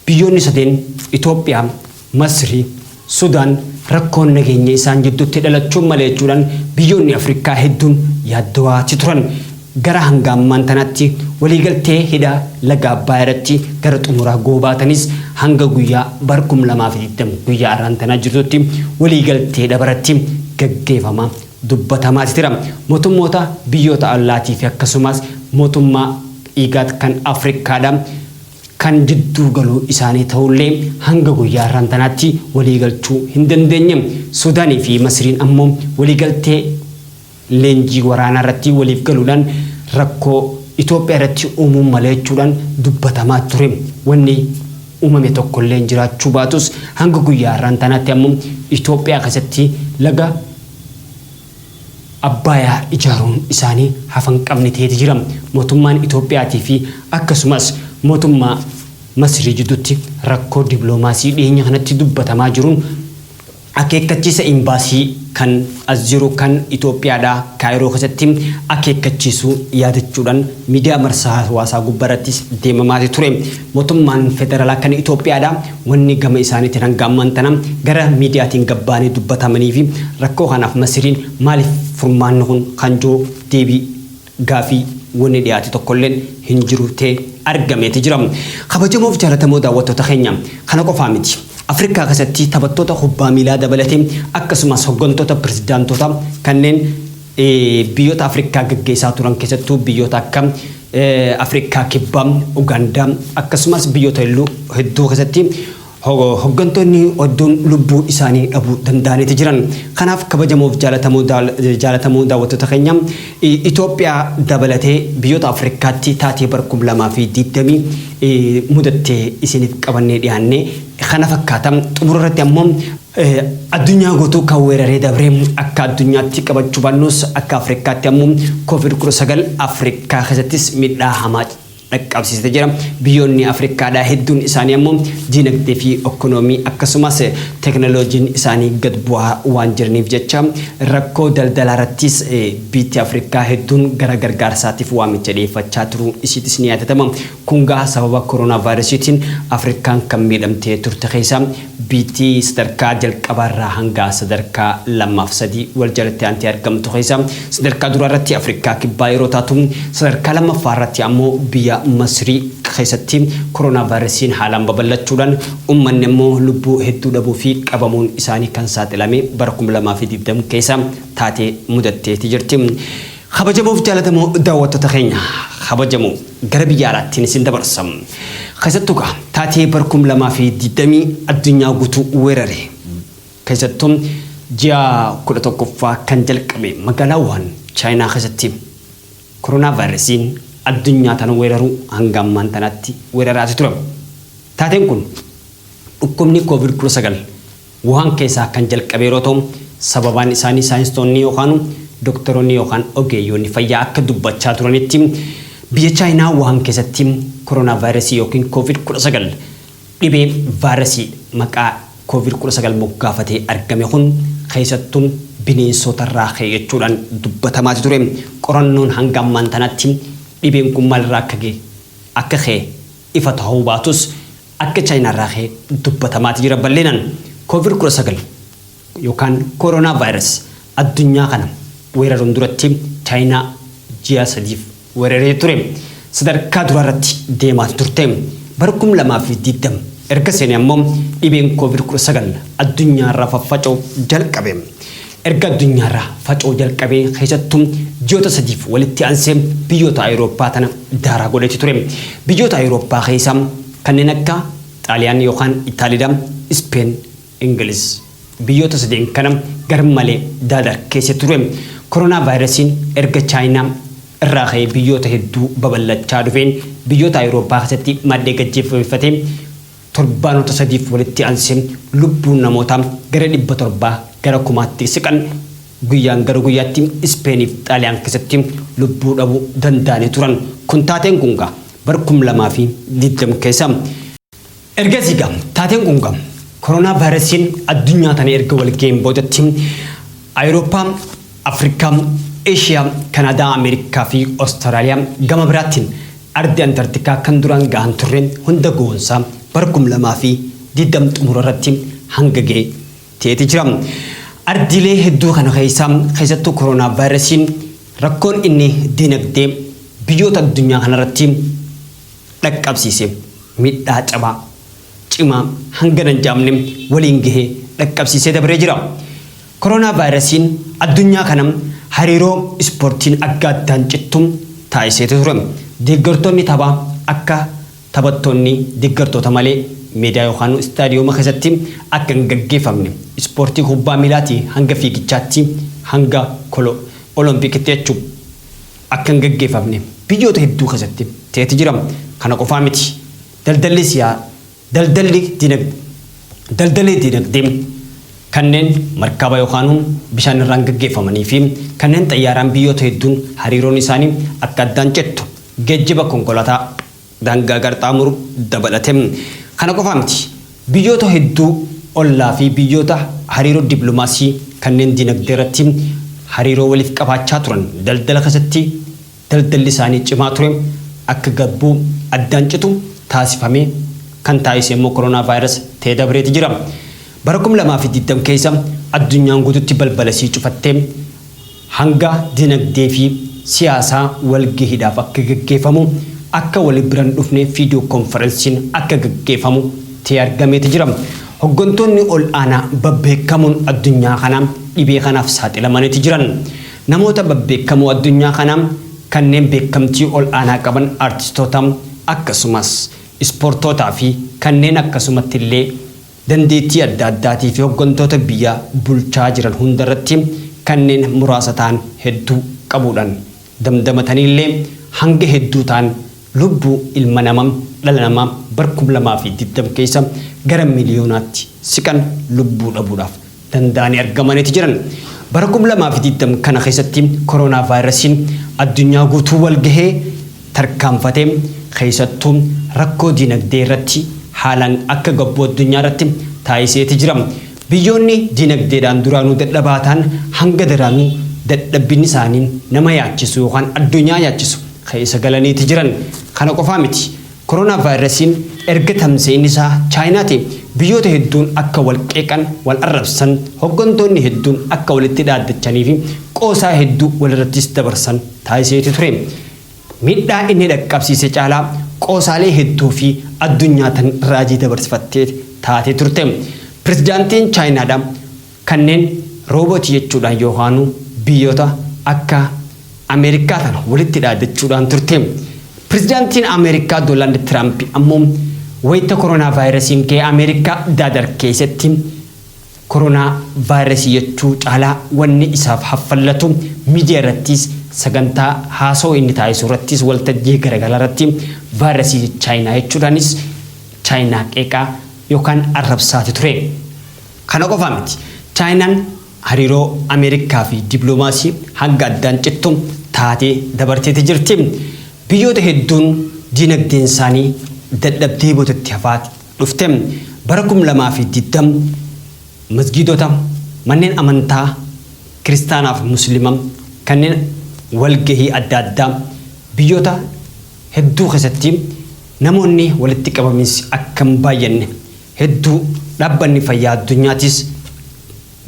biyyoonni sadeen Itoophiyaa, Masrii, Sudaan rakkoon nageenyaa isaan jidduutti dhalachuun maleechuudhaan biyyoonni Afrikaa hedduun yaaddawaati turan. Gara hanga ammaan tanaatti waliigaltee hidha laga Abbaay irratti gara xumuraa goobaatanis hanga guyyaa bar 2020 guyyaa arraan tanaa jirtutti waliigaltee dhabaratti gaggeefama dubbatamaati tira. Motummoota biyyoota ollaatii fi akkasumaas motummaa Igad kan Afrikkaadha kan jidduu galuu isaanii tahullee hanga guyyaa arraan tanaatti waliigalchuu hin dandeenye. Sudaanii fi Masiriin ammoo waliigaltee leenjii waraanaa irratti waliif galuudhaan rakkoo Itoophiyaa irratti uumuun mala jechuudhaan dubbatamaa ture. Wanni uumame tokkolleen jiraachuu baatus hanga guyyaa har'aan tanaatti ammoo Itoophiyaa keessatti laga Abbaayaa ijaaruun isaanii hafa hin qabne ta'eeti jira. Mootummaan Itoophiyaatii fi akkasumas mootummaa Masirii jidduutti rakkoo diploomaasii dhiheenya kanatti dubbatamaa jiruun Akeekkachiisa Imbaasii kan as jiru kan Itoophiyaadhaa Kaayiroo keessatti akeekkachiisuu yaadachuudhaan miidiyaa marsaa hawaasaa gubbarrattis deemamaati ture. Mootummaan Federaalaa kan Itoophiyaadhaa wanni gama isaaniitiin hanga ammaan tana gara miidiyaatiin gad ba'anii dubbatamaniifi rakkoo kanaaf Masiriin maaliif furmaanni kun kan jiru deebii Gaafii wani dhiyaate tokkollen hin jiru te argameeti jira. Kabajamoof jaalatamoo daawwattoota keenya kana qofaa miti. Afrikaa kesatti taphattoota kubbaa miilaa dabalate akkasumas hoggantoota pirezidaantoota kanneen biyyoota Afrikaa geggeesaa turan keessattuu biyyoota akka Afrikaa kibbaa, Ugaandaa akkasumas biyyoota hedduu keessatti Hoggantoonni odduun lubbuu isaanii dhabuu danda'aniiti jiran. Kanaaf kabajamoof jaalatamoo daawwattoota keenya Itoophiyaa dabalatee biyyoota Afrikaatti taatee bara 2020 mudatte isiniif qabannee dhiyaanne kana fakkaata. Xumura irratti ammoo addunyaa guutuu kan weeraree dabre akka addunyaatti qabachuu baannus akka Afrikaatti ammoo Covid 19 Afrikaa keessattis miidhaa hamaa dhaqqabsiisite jira. Biyyoonni Afrikkaadhaa hedduun isaanii ammoo diinagdee fi okkonoomii akkasumas teknoloojiin isaanii gad bu'aa waan jiraniif jecha rakkoo daldalaa irrattis biitti Afrikkaa hedduun gara gargaarsaatiif waamicha dhiyeeffachaa turuun isiitis ni yaadatama. Kun gaa sababa koronaavaayirasiitiin Afrikkaan kan miidhamtee turte keessaa Biyyttii sadarkaa jalqabaarraa hanga sadarkaa 2 fi 3 wal jalatti aantee argamtu keessaa sadarkaa duraarratti Afrikaa Kibbaa yeroo taatu, sadarkaa lammaffaarratti ammoo biyya Masrii keessatti koronaavaayirasiin haalaan babal'achuudhaan ummanni ammoo lubbuu hedduu dhabuu fi qabamuun isaanii kan saaxilame bara 2020 keessa taatee mudatteeti jirti. Kabajamoof jaalatamoo daawwattoota keenya kabajamoo gara biyya alaattiin isin dabarsa. Keessattuu kaa taatee bara kum lamaa fi digdamii addunyaa guutuu weerare keessattuu ji'a kudha tokkoffaa kan jalqabe magaalaa Wuhan Chaayinaa keessatti koronaa vaayirasiin addunyaa tana weeraruu hanga ammaan tanaatti weeraraati ture. Taateen kun dhukkubni koovid kudha sagal Wuhaan keessaa kan jalqabe yeroo ta'u, sababaan isaanii saayinstoonni yookaanu doktaroonni yookaan ogeeyyoonni fayyaa akka dubbachaa turanitti biyya Chaayinaa Wuhaan keessatti koronaavaayirasii yookiin Koovid 19 dhibee vaayirasii maqaa Koovid 19 moggaafatee argame kun keessattu bineensootarraa ka'e jechuudhaan dubbatamaati ture. Qorannoon hanga ammaan tanaatti dhibeen kun maalirraa akka akka ka'e ifa ta'uu baatus, Akka Chaayinaa irraa ka'e dubbatamaati jira bal'inaan. Covid 19 yookaan Corona Virus addunyaa kana weeraruun duratti Chaayinaa ji'a sadiif weeraree ture. Sadarkaa duraa irratti deemaati turte. Bara 2020 erga seene ammoo dhibeen Covid 19 addunyaa irra faffaca'u jalqabe. Erga addunyaarraa faca'uu jalqabee keessattuu ji'oota sadiif walitti aansee biyyoota Awurooppaa tana daaraa godheeti ture. Biyyoota Awurooppaa keessaa kanneen akka Xaaliyaan yookaan Itaalida, Ispeen, Ingiliz. Biyyoota sadeen kana garmalee daadarkeesse ture. Koronaavaayirasiin erga Chaayinaa irraa ka'ee biyyoota hedduu babal'achaa dhufeen biyyoota Awurooppaa keessatti maddee gad jeffabeeffatee Torbaanota sadiif walitti aansee lubbuun namootaa gara 700 gara kumaatti siqan guyyaan gara guyyaatti Ispeeniif Xaaliyaan keessatti lubbuu dhabuu danda'anii turan. Kun taateen kun gaa bara 2020 keessa. Ergasii gaa taateen kun gaa koronaavaayirasiin addunyaa tana erga wal ga'een boodatti Awurooppaa. Afrikaa, Eeshiyaa, Kanaadaa, Ameerikaa fi Ostaraaliyaa gama biraatiin ardi Antartikaa kan duraan gahan turre hunda goonsaa bara 2020 xumura irratti hanga gahe ta'eeti jira. Ardiilee hedduu kana keessaa keessattuu koronaavaayirasiin rakkoon inni diinagdee biyyoota addunyaa kanarratti dhaqqabsiise miidhaa cabaa cimaa hangana hin jaamne waliin gahe dhaqqabsiisee dabree jira. Koronaavaayirasiin addunyaa kana hariiroo ispoortiin akka addaan cittu taasiseeti ture. Deeggartoonni taphaa akka taphattoonni deeggartoota malee meedaa yookaan istaadiyooma keessatti akka hin gaggeeffamne, ispoortii kubbaa miilaatii hanga fiigichaatti hanga kolo Oloompikitti jechuu, akka hin gaggeeffamne biyyoota hedduu keessatti ta'eeti jira. Kana qofaa miti. Daldalli siyaa. Daldalli dinag Daldalli dinagdee kanneen markaba yookaan bishaan irraan gaggeeffamanii fi kanneen xayyaaraan biyyoota hedduun hariiroon isaanii akka addaan cittu geejjiba konkolaataa daangaa qarxaamuru dabalate. Kana qofaa miti. Biyyoota hedduu ollaa fi biyyoota hariiroo diplomaasii kanneen dinagdee irratti hariiroo waliif qabaachaa turan daldala keessatti Daldalli isaanii cimaa ture akka gabbu, addaan citu, taasifamee kan taasise immoo Koronaavaayiras ta'ee dabreeti jira. Bara 2020 keessa addunyaan guututti balbala isii cufattee hanga dinagdee fi siyaasaa walgahiidhaaf akka gaggeefamu, akka wali bira hin dhufne fiidiyoo konfaransiin akka gaggeefamu ta'ee argameeti jira. Hoggantoonni ol'aanaa babbeekamoon addunyaa kanaa dhibee kanaaf saaxilamaniiti jiran. Namoota babbeekkamoo addunyaa kanaa kanneen beekkamtii ol aanaa qaban artistoota akkasumas ispoortootaa fi kanneen akkasumatti illee dandeettii adda addaatii fi hoggantoota biyya bulchaa jiran hunda irratti kanneen muraasa ta'an hedduu qabuudhaan damdamatanii illee hanga hedduu ta'an lubbuu ilma nama dhala namaa bara 2020 keessa gara miliyoonaatti siqan lubbuu dhabuudhaaf danda'anii argamaniiti jiran. Bara 2020 kana keessatti koronaavaayirasiin addunyaa guutuu wal gahee tarkaanfate keessattuu rakkoo diinagdee irratti haalaan akka gabbuu addunyaa irratti taasiseeti jira. Biyyoonni diinagdeedhaan duraanuu dadhabaa ta'an hanga daraanuu dadhabbinni isaanii nama yaachisu yookaan addunyaa yaachisu keessa galaniiti jiran. Kana qofaa miti. Koronaavaayirasiin erga tamsa'inisaa Chaayinaatiin biyyoota hedduun akka wal qeeqan, wal arrabsan, hoggantoonni hedduun akka walitti dhaaddachaniifi qoosaa hedduu walirrattis dabarsan taasiseeti ture. Miidhaa inni dhaqqabsiise caalaa qoosaalee hedduufi addunyaa tan raajii dabarsifatte taatee turte. Pirezidaantiin Chaayinaadha. Kanneen roobootii jechuudhaan Yoohaanuu biyyoota akka Ameerikkaa kana walitti dhaadachuudhaan turte. Pirezidaantiin Ameerikkaa Doolaand Tiraampi ammoo wayita koronaavaayirasiin ka'e Ameerikkaa daadar keessatti koronaa vaayirasii jechuu caalaa wanni isaaf haffallatu miidiyaa irrattiis sagantaa haasawa inni taasisu irrattiis waltajjii garagaraa irratti vaayirasii Chaayinaa jechuudhaanis Chaayinaa qeeqaa yookaan arrabsaati ture. Kana qofa miti, Chaayinaan hariiroo Ameerikaa fi dippilomaasii hanga addaan cittu taatee dabarteeti jirti. Biyyoota hedduun diinagdeensaanii dadhabdee bootatti hafaa dhufte. Bara 2020 masgiidota, manneen amantaa Kiristaanaa fi Muslima kanneen walgahii adda addaa biyyoota hedduu keessatti namoonni walitti qabaminsi akka hin baay'anne Hedduu Dhaabbanni Fayyaa Addunyaatiis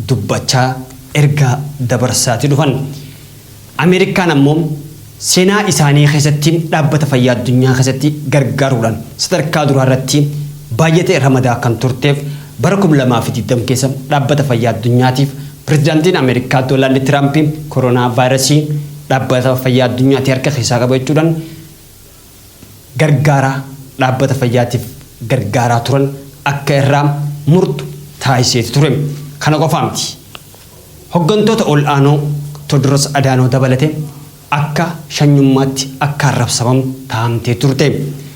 dubbachaa ergaa dabarsaati dhufan. Ameerikaan ammoo seenaa isaanii keessatti Dhaabbata Fayyaa Addunyaa keessatti gargaaruudhaan sadarkaa duraa irratti baayyata ramadaa kan turteef bara 2020 keessa Dhaabbata Fayyaa Addunyaatiif Pirezidaantiin Ameerikaa Doolaand Tiraampi koronaavaayirasii Dhaabbata Fayyaa Addunyaati harka keessaa qaba jechuudhaan gargaaraa dhaabbata fayyaatiif gargaaraa turan akka irraa murtu taasiseeti ture. Kana qofaa miti. Hoggantoota ol'aanoo Tewodiroos Adaanoo dabalate akka shanyummaatti akka arrabsamamu taa'amtee turte.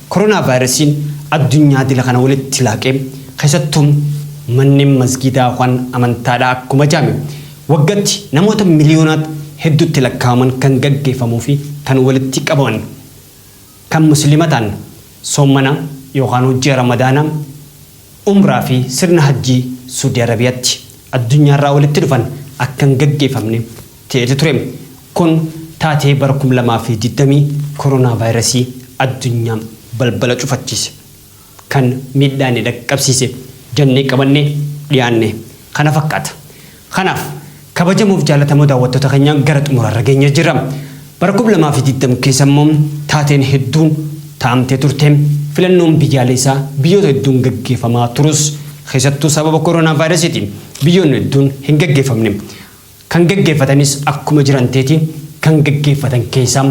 Koronaavaayirasiin addunyaa dila kana walitti laaqee keessattuu manneen masgiidaa waan amantaadhaa akkuma jaame Waggatti namoota miliyoonaat hedduutti lakkaa'aman kan gaggeeffamuu fi kan walitti qabaman kan Muslima ta'an soommana yookaanuu ji'a Ramadaanaa, Umraa fi sirna Hajjii Suudi Arabiyaatti addunyaarraa walitti dhufan akka hin gaggeeffamne ta'eeti ture. Kun taatee bara 2020 koronaavaayirasii addunyaa balbala cufachiise. kan miidhaa inni dhaqqabsiise jennee qabannee dhiyaanne kana fakkaata. Kanaaf, kabajamoof jaalatamoo daawwattoota keenyaa gara xumuraarra geenyee jirra. Bara 2020 keessa immoo taateen hedduun taa'amtee turte. Filannoon biyyaaleessaa biyyoota hedduun gaggeeffamaa turus keessattuu sababa koronaavaayirasiitiin biyyoonni hedduun hin gaggeeffamne. Kan gaggeeffatanis akkuma jiran teeti kan gaggeeffatan keessaa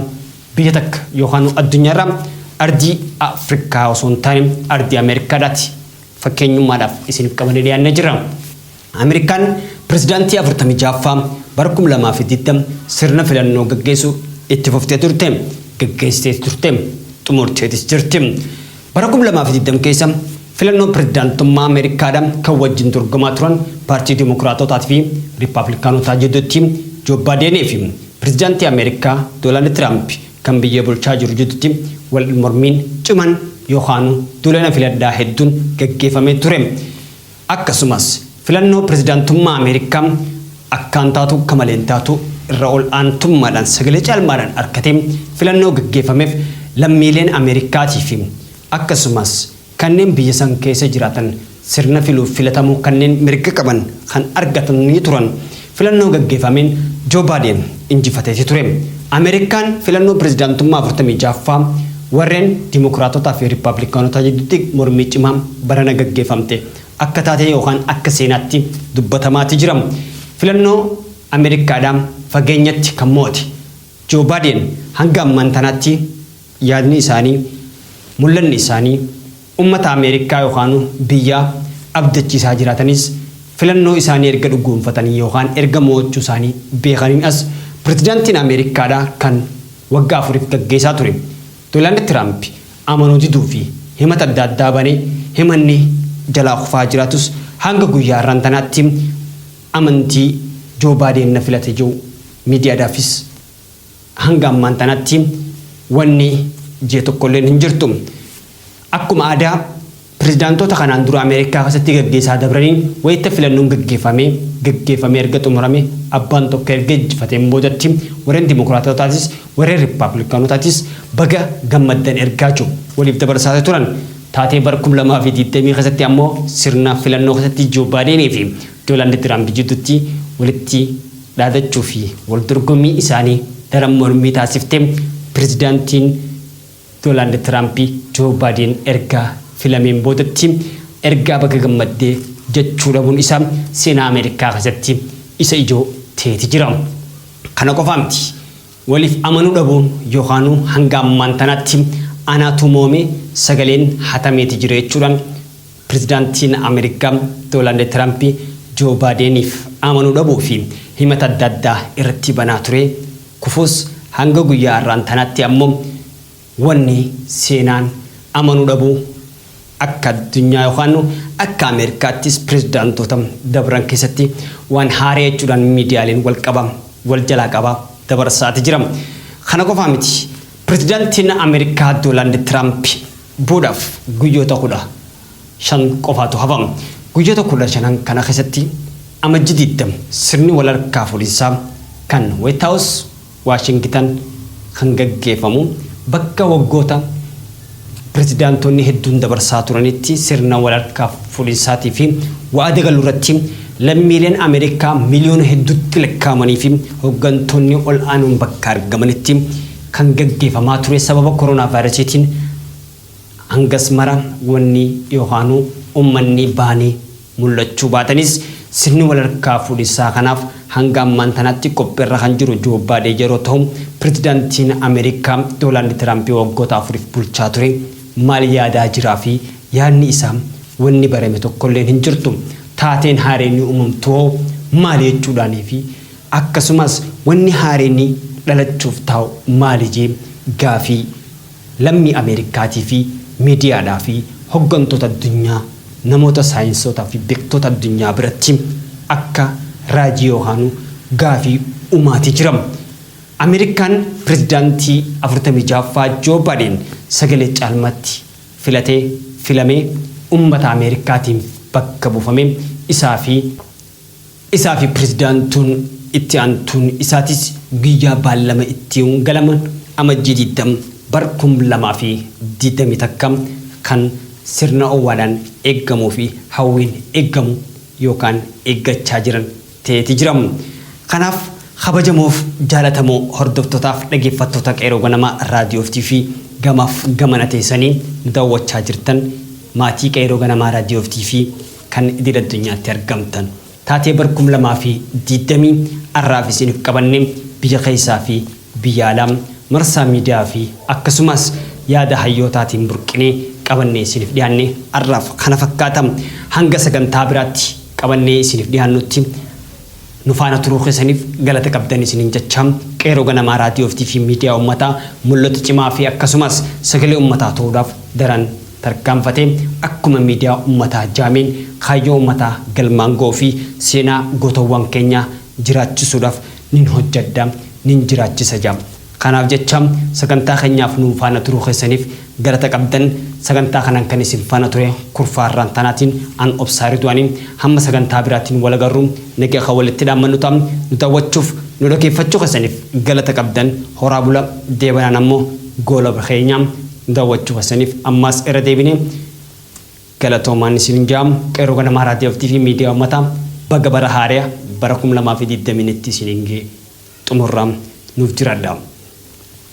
biyya takka yookaanuu addunyaarraa ardii Afrikaa osoo hin taane ardii Ameerikaadhaati. Fakkeenyummaadhaaf isiniif qabannee dhiyaannee jirra. Ameerikaan pirezidaantii 46ffaa bara 2020 sirna filannoo gaggeessu itti fuftee turte, gaggeessitees turte, xumurteetis jirti. Bara 2020 keessa filannoo pirezidaantummaa Ameerikaadha kan wajjin dorgomaa turan paartii Dimokiraatootaa fi Rippaablikaanotaa jidduutti Joo Baadeenii fi pirezidaantii Ameerikaa Doonaald Tiraamp kan biyya bulchaa jiru jidduutti wal mormiin ciman yookaanuu duula na filadhaa hedduun gaggeefamee ture. Akkasumas, filannoo pirezidaantummaa Ameerikaa akkaan taatu kamaleen taatu irra ol aantummaadhaan sagalee caalmaadhaan arkatee filannoo gaggeeffameef lammiileen Ameerikaatii fi akkasumas kanneen biyya san keessa jiraatan sirna filuuf filatamuu kanneen mirga qaban kan argatanii turan Filannoo gaggefameen Joo Baadeen injifateeti ture. Ameerikaan filannoo pirezidaantummaa 46ffaa warren Dimokiraatotaa fi Rippaablikaanotaa jiddutti mormii cimaa barana gaggefamte akka taatee yookaan akka seenaatti dubbatamaati jira. Filannoo Ameerikaadhaa fageenyatti kan mo'ate Joo Baadeen hanga ammaan tanaatti yaadni isaanii, mul'anni isaanii, Ummata Ameerikkaa yookaanu biyyaa abdachiisaa jiraatanis filannoo isaanii erga dhugoomfatanii yookaan erga mo'achuu isaanii beekaniin as Pirezidaantiin Ameerikkaadhaa kan waggaa afuriif gaggeesaa ture Doonaald Tiraampi amanuu diduu fi himata adda addaa banee himanni jalaa kufaa jiraatus hanga guyyaa har'aan tanaatti amantii Joo Baadeen na filate je'u miidiyaadhaafis Hanga ammaan tanatti wanni jee tokkolleen hin jirtu. Akkuma aadaa pirezidaantoota kanaan dura Ameerikaa keessatti gaggeessaa dabraniin wayita filannoon gaggeeffamee gaggeeffamee erga xumurame abbaan tokko erga injifateen boodatti warreen Dimokiraatootaatis warreen Rippaablikaanootaatis baga gammaddan ergaa jiru waliif dabarsaati turan. Taatee bara 2020 keessatti ammoo sirna filannoo keessatti Joo Baadeenii fi Doolaand Tiraamp jidduutti walitti dhaadachuu fi waldorgommii isaanii daran mormii taasifte Pirezidaantiin Doonaald Tiraamp Joo Baayideen erga filameen boodatti ergaa baga gammadde jechuu dhabuun isaa seenaa Ameerikaa keessatti isa ijoo ta'eeti jira. Kana qofaa miti. Waliif amanuu dhabuun yookaanuu hanga ammaan tanaatti anaatu mo'ame sagaleen hatameeti jira jechuudhaan, Pirezidaantiin Ameerikaa Doolaand Tiraamp Joo Baadeeniif amanuu dhabuu fi himata adda addaa irratti banaa ture kufuus hanga guyyaa har'aan tanaatti ammoo wanni seenaan amanuu dhabuu akka addunyaa yookaan akka Ameerikaattis pirezidaantoota dabran keessatti waan haaree jechuudhaan miidiyaaleen wal qaba wal jalaa qaba dabarsaati jira. Kana qofaa miti pirezidaantiin Ameerikaa Doolaand Tiraamp boodaaf guyyoota 15 qofaatu hafa. Guyyoota 15n kana keessatti Amajjii 20 sirni wal harkaa fuudhinsaa kan White House, Waashingitan kan gaggeeffamu bakka waggoota pirezidaantoonni hedduun dabarsaa turanitti sirna wal harkaa fuudhinsaatii fi wa'ada galuu irratti lammiileen Ameerikaa miliyoona hedduutti lakkaa'amanii fi hoggantoonni ol aanoon bakka argamanitti kan gaggeefamaa ture sababa koronaavaayirasiitiin hangas mara wanni yookaanuu ummanni bahanii mul'achuu baatanis sirni walharkaa fuudhinsaa kanaaf hanga ammaan tanaatti qophiirra kan jiru Joo Baadeen yeroo tahu pirezidaantiin Ameerikaa Doolaandi Tiraampi waggoota afuriif bulchaa ture maal yaadaa jiraa fi yaadni isaa wanni barame tokkolleen hin jirtu taateen haareenni uumamtuhoo maali jechuudhaanii fi Akkasumas wanni haareenni dhalachuuf taa'u maali jee gaafii lammii Ameerikkaatii fi miidiyaadhaa fi hoggantoota addunyaa namoota saayinsootaa fi beektoota addunyaa biratti akka raajii yookaanuu gaafii umaatii jira. Ameerikkaan pirezidaantii 46ffaa Joo Baadeen sagalee caalmaatti filatee filamee ummata Ameerikkaatiinf bakka buufamee isaa fi Isaa fi Pirezidaantuun itti aantuun isaatis guyyaa baallama itti galaman Amajjii 20 bar 2021 kan sirna owwaalaan eeggamuu fi hawwiin eeggamu yookaan eeggachaa jiran ta'eeti jira. Kanaaf kabajamoof jaalatamoo hordoftootaaf dhageeffattoota Qeeroo Ganamaa Raadiyoo fi TV gamaaf gamana teessanii nu daawwachaa jirtan maatii Qeeroo Ganamaa Raadiyoo fi TV, kan idil addunyaatti argamtan taatee bar 2024f isiinif qabanne biyya keessaa fi biyya alaa marsaa miidiyaa fi akkasumaas yaada hayyootaatiin burqinee qabannee isiinif dhiyaanne arraaf kana fakkaata hanga sagantaa biraatti qabannee isiinif dhiyaannutti Nu faana turuu keessaniif galata qabdan isiniin jechaa, Qeerroo Ganamaa Raadiyoo fi TV Miidiyaa Ummataa mul'ata cimaa fi akkasumas sagalee ummataa ta'uudhaaf daran tarkaanfatee akkuma miidiyaa ummataa jaameen kaayyoo ummataa galmaan ga'uu fi seenaa gootowwan keenyaa jiraachisuudhaaf nin hojjedha, nin jiraachisa ja. Kanaaf jecha sagantaa keenyaaf nu faana turuu keessaniif galata qabdan. Sagantaa kanaan kan isin faana ture Kurfaa Irraantaanaatiin an Obsaa Ridwaani. Hamma sagantaa biraatiin wal agarru nagaa kan walitti dhaammannu ta'a. Nu daawwachuuf, nu dhageeffachuu keessaniif galata qabdan. Horaa bula. Deebanaan ammoo goolabra keenya. Nu daawwachuu keessaniif ammaas irra deebinee. Galatoomaan isinin jaa Qeerroo Ganamaa Raadiyoof TV Miidiyaa Ummataa Baga Bara Haareya Bara 2020 Nitti isinin gee Xumurra Nuuf jiraadha.